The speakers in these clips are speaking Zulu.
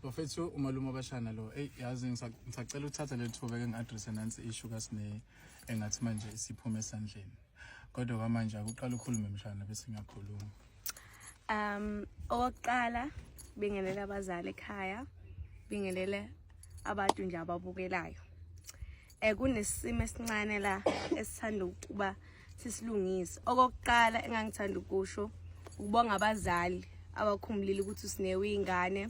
bafethu umalume abashana lo eyi yazi ngisacela ukuthatha leli thuba ke ngi-adresse nansi ishu kasine engathi manje isiphume esandleni kodwa kwamanje akuqala ukhulume mshana bese ngiyakhuluma um okokuqala bingelela abazali ekhaya bingelele abantu nje ababukelayo Eh kunesimo esincane la esithanda ukuba sisilungise. Okokuqala engangithanda ukusho ukubonga abazali abakhumbulile ukuthi usinewe ingane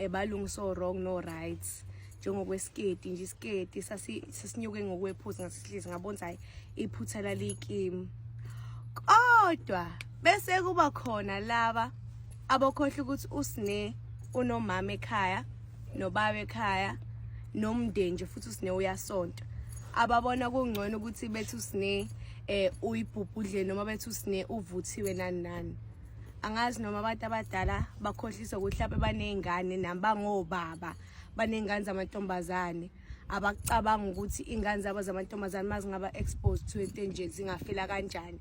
ebalungisa eh, wrong no right njengokwesiketi nje isiketi sasinyuke ngokwephuzi ngasihlezi ngabona ukuthi hayi iphutha lalikimi kodwa bese kuba khona laba abokhohle ukuthi usine unomama ekhaya nobaba ekhaya nomndeni nje futhi usine uyasonta ababona kungcono ukuthi bethi usine eh uyibhubhudle noma bethi usine uvuthiwe nani nani angazi noma abantu abadala bakhohlisa ukuthi mhlawumbe baney'ngane nami bangobaba baney'ngane zamantombazane abacabanga ukuthi iy'ngane zabo zamantombazane uma zingaba exposed to into enje zingafela kanjani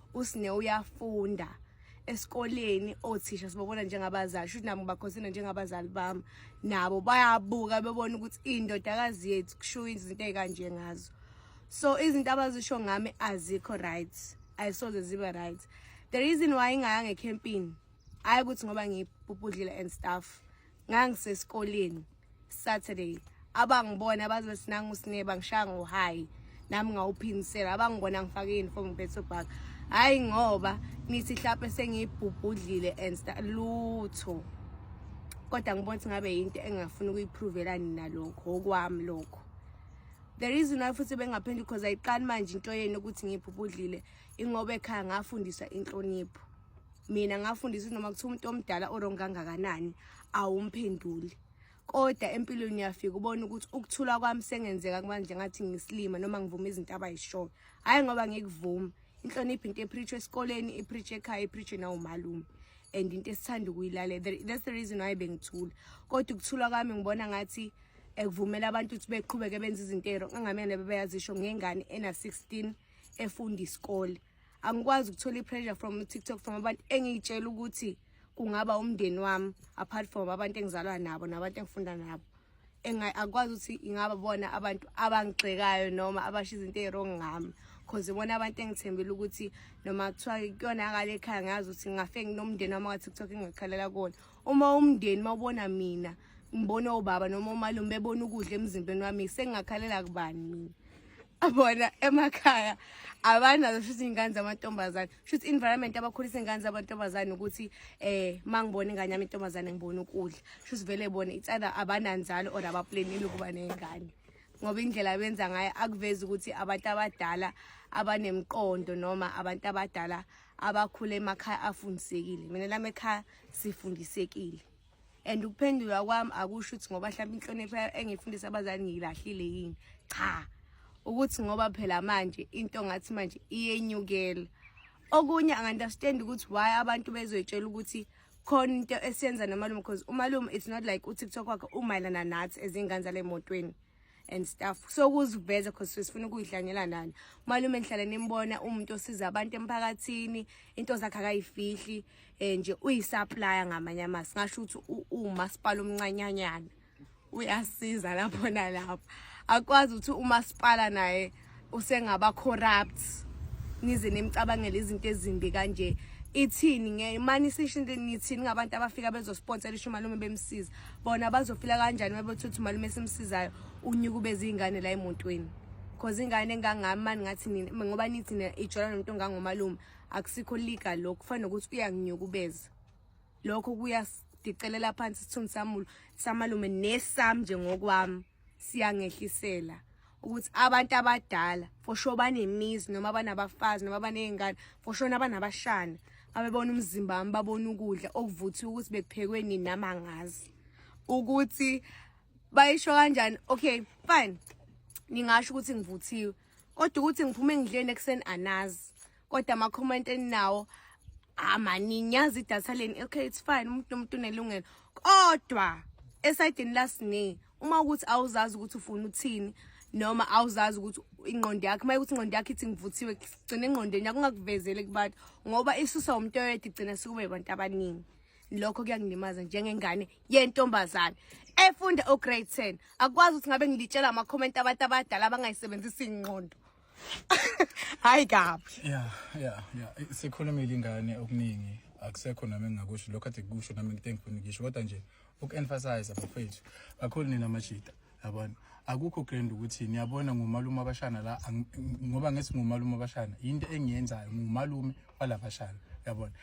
usine uyafunda esikoleni othisha sibabona njengabazali shuthi nami ngibakhosina njengabazali bami nabo bayabuka bebona ukuthi indodakazi yethu kushiwo izinto ezikanje ngazo so izinto abazisho ngami azikho right ayisoze zibe right the reason why ingaya ngecampini hayi ukuthi ngoba ngibhubhudlile and stuff ngangisesikoleni Saturday abangibona baze sinanga usineba ngishaya ngohayi nami ngawuphinisela abangibona ngifake uniform ngiphethe bag hayi ngoba nithi hlape sengiyibhubhudlile and lutho kodwa ngibona ukuthi ngabe yinto engingafuni ukuyiphrovela nina lokho okwami lokho the reason why futhi bengaphenduli because ayiqali manje into yenu ukuthi ngiphupudlile ingoba ekhaya ngafundiswa inhlonipho mina ngafundisa ukuthi noma kuthiwa umuntu omdala orong kangakanani awumphenduli kodwa empilweni uyafika ubona ukuthi ukuthula kwami sengenzeka kumanje ngathi ngisilima noma ngivuma izinto abayishoyo hhayi ngoba ngikuvuma inhlonipho into epreach esikoleni ipreach ekhaya ipreach nawumalume and into esithanda ukuyilalela that's the reason why bengithula kodwa ukuthula kwami ngibona ngathi ekuvumela abantu ukuthi beqhubeke benze izinto ero angamele bebeyazisho ngengane ena 16 efunda isikole angikwazi ukuthola i-pressure from tiktok from abantu engiyitshela ukuthi kungaba umndeni wami apart from abantu engizalwa nabo nabantu engifunda nabo akwazi ukuthi ingaba bona abantu abangigxekayo noma abasho izinto eziwrong ngami cause ibona abantu engithembile ukuthi noma kuthiwa kuyonakala ekhaya ngazi ukuthi ngafe nginomndeni wami ka-tiktok engikhalela kuwona uma umndeni mawubona mina ngibona obaba noma umalume bebona ukudla emzimbeni wami sengingakhalela kubani mina abona emakhaya abanazo shuthi iy'ngane zamantombazane shuthi environment abakhulisa iy'ngane zamantombazane ukuthi eh uma ngibona ingane yami intombazane ngibona ukudla shuthi vele bona itsada abananzalo or abaplanile ukuba ney'ngane ngoba indlela benza ngayo akuvezi ukuthi abantu abadala abanemqondo noma abantu abadala abakhule emakhaya afundisekile mina lami ekhaya sifundisekile and ukuphendula kwami akusho ukuthi ngoba mhlawumbe inhlonipho engifundisa abazali ngiyilahlile yini cha ukuthi ngoba phela manje into ngathi manje iyenyukela okunye angunderstand ukuthi why abantu bezoyitshela ukuthi khona into esiyenza nomalume because umalume it's not like utiktok wakhe umayelana nathi ezingane zale motweni and stuff so kuziveza cause sifuna ukuyidlanyela nani malume ngihlale nimbona umuntu osiza abantu emphakathini into zakhe akayifihli eh nje uyisupplier ngamanye amasi ngasho ukuthi umasipala omncanyanyana uyasiza lapho nalapho akwazi ukuthi umasipala naye usengaba corrupt nize nimcabangele izinto ezimbi kanje ithini ngeke mani sisho into ngithini ngabantu abafika bezosponsela isho malume bemsiza bona bazofila kanjani mabethuthi malume simsizayo unyuku bezingane la emontweni cause ingane engangami mani ngathi nina ngoba nithi nina ijola nomuntu ongangomalume akusikho legal lokho kufana nokuthi uyanginyukubeza lokho kuyasidicelela phansi isithunzi samulo samalume nesam nje ngokwami siyangehlisela ukuthi abantu abadala for sure banemizi noma banabafazi noma banezingane for sure nabanabashana abebona umzimba wami babona ukudla okuvuthiwe ukuthi bekuphekwe nini nama ngazi ukuthi bayisho kanjani okay fine ningasho ukuthi ngivuthiwe kodwa ukuthi ngiphume ngidleni ekuseni anazi kodwa ama comment eninawo amaningi ah, yazi idatha leni okay it's fine umuntu nomuntu unelungelo kodwa esayidini lasine uma ukuthi awuzazi ukuthi ufuna uthini noma awuzazi ukuthi ingqondo yakhe uma ukuthi ingqondo yakhe ithi ngivuthiwe gcina engqondweni yakho ungakuvezeli kubantu ngoba isusa umuntu oyedwa igcina sikuba abantu abaningi lokho kuyangilimaza njengengane yentombazane efunda ograde 10 akwazi ukuthi ngabe ngilitshela ama-comment abantu abadala abangayisebenzisi ingqondo hayi kabi ya ya ya sikhulumile ingane okuningi akusekho nami engingakusho lokho athi kusho nami ngithe ngifuna ngisho kodwa nje uku-emphasize bafethu kakhulu nina mashida yabona akukho grand ukuthi niyabona ngumalume abashana la ngoba ngesi ngumalume abashana into engiyenzayo ngumalume walabashana yabona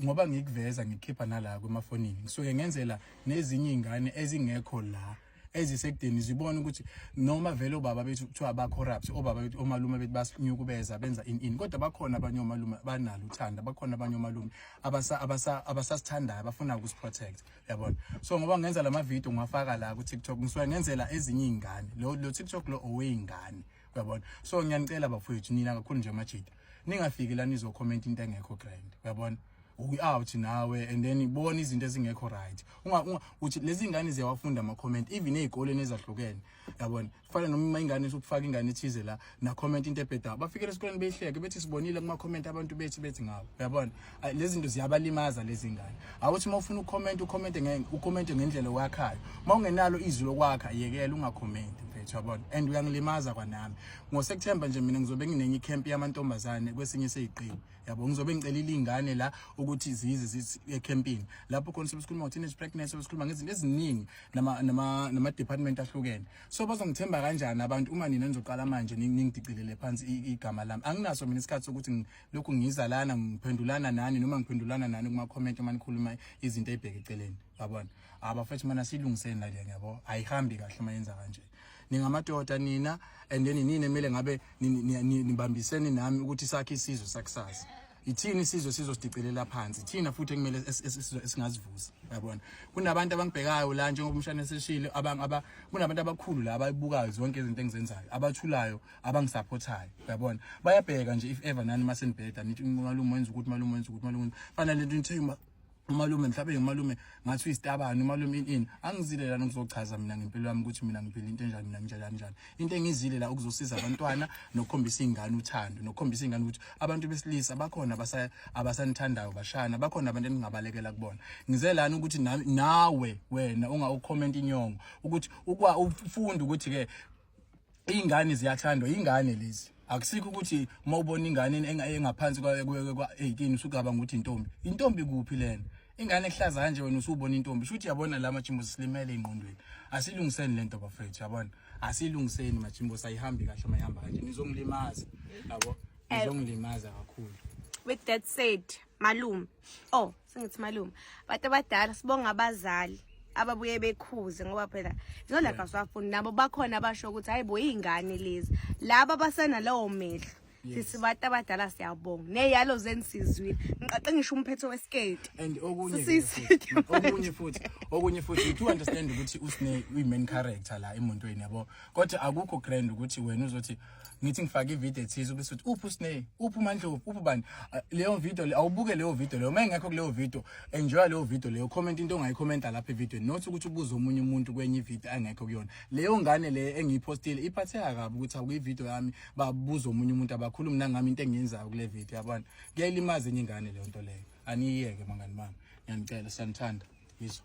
ngoba ngikuveza ngikhipha nala kwemafonini ngisuke ngenzela nezinye ingane ezingekho la ezisekudeni zibona ukuthi noma vele obaba bethu kuthiwa ba corrupt obaba bethu omalume bethu basinyukubeza benza in in kodwa bakhona abanye omalume banalo uthanda bakhona abanye omalume abasa abasa abasasithandayo bafuna ukusiprotect yabona so ngoba ngenza lama video ngiwafaka la ku TikTok ngisuke ngenzela ezinye izingane lo lo TikTok lo oweyingane uyabona so ngiyanicela bafowethu nina kakhulu nje amajita ningafiki la nizo comment into engekho grand uyabona we out nawe and then ibona izinto ezingekho right unga uthi lezi ngane ziyawafunda ama comment even ezikoleni ezahlukene yabona kufana noma uma ingane isukufaka ingane ithize la na comment into ebhedayo bafikele esikoleni beyihleke bethi sibonile kuma comment abantu bethi bethi ngabo yabona lezi zinto ziyabalimaza lezi ngane awuthi uma ufuna ucomment ucomment ngeke ucomment ngendlela wakhayo uma ungenalo izwi lokwakha yekela ungacomment mfethu yabona and uyangilimaza kwanami ngoSeptember nje mina ngizobe nginenye camp yamantombazane kwesinye seyiqini yabo ngizobe ngicelile ingane la ukuthi zize zithi ecampini lapho khona sikhuluma ngo teenage pregnancy sikhuluma ngezinto eziningi nama nama nama department ahlukene so bazongithemba kanjani abantu uma nina nizoqala manje ningidicilele phansi igama lami anginaso mina isikhathi sokuthi lokhu ngiza lana ngiphendulana nani noma ngiphendulana nani kuma comment uma nikhuluma izinto ezibheke eceleni yabona abafethu mana silungiseni la ngiyabo ayihambi kahle uma yenza kanje ningamadoda nina and then nini kumele ngabe nibambisene nami ukuthi sakhe isizwe sakusasa Yithini isizwe sizosidicelela phansi thina futhi ekumele esizwe esingazivuza yabona kunabantu abangibhekayo la njengoba umshana eseshile abangaba kunabantu abakhulu la abayibukayo zonke izinto engizenzayo abathulayo abangisupportayo yabona bayabheka nje if ever nani masenibheda nithi malume wenza ukuthi malume wenza ukuthi malume fanele into nithemba umalume mhlawumbe ngumalume ngathi uyisitabani umalume ini ini angizile lana ngizochaza mina ngempilo yami ukuthi mina ngiphila into enjani mina nginjani njani into engizile la ukuzosiza abantwana nokukhombisa ingane uthando nokukhombisa ingane ukuthi abantu besilisa bakhona abasa abasanithandayo bashana bakhona abantu eningabalekela kubona ngize lana ukuthi nawe wena unga ucomment inyongo ukuthi ukwa ufunda ukuthi ke iy'ngane ziyathandwa yingane lezi akusikho ukuthi uma ubona ingane engaphansi kwa-18 usugaba ngokuthi intombi intombi kuphi lena ingane ehlaza kanje wena usubona intombi sho ukuthi yabona la majimbo silimele engqondweni asilungiseni le nto bafethu yabona asilungiseni majimbo sayihambi kahle uma ihamba kanje nizongilimaza yabo eh. nizongilimaza kakhulu with that said malume oh singithi malume abantu abadala sibonga abazali ababuye bekhuze ngoba phela zolaka swafundi nabo bakhona basho ukuthi hayibo izingane lezi laba basena lawo mehlo sisi bantu abadala siyabonga neyalo zenisizwile ngiqaqe ngisho umphetho wesiketi and okunye okunye futhi okunye futhi you understand ukuthi usine uyi main character la emontweni yabo kodwa akukho grand ukuthi wena uzothi ngithi ngifake ivideo ethize ubese uthi uphi usney uphi umandlovu uphi bani ah, leyo video le awubuke leyo video leyo uma ingekho kuleyo video enjoy leyo video leyo comment into ongayikhomenta lapha evideo not ukuthi ubuze omunye umuntu kwenye ivideo angekho kuyona leyo ngane le engiyiphostile iphatheka kabi ukuthi akuyivideo yami babuza omunye umuntu abakhulumi nangami into engiyenzayo kule video yabona kuyayilimaza enye ingane leyo nto leyo aniyiyeke mangani mami ngiyanicela siyanithanda yizwa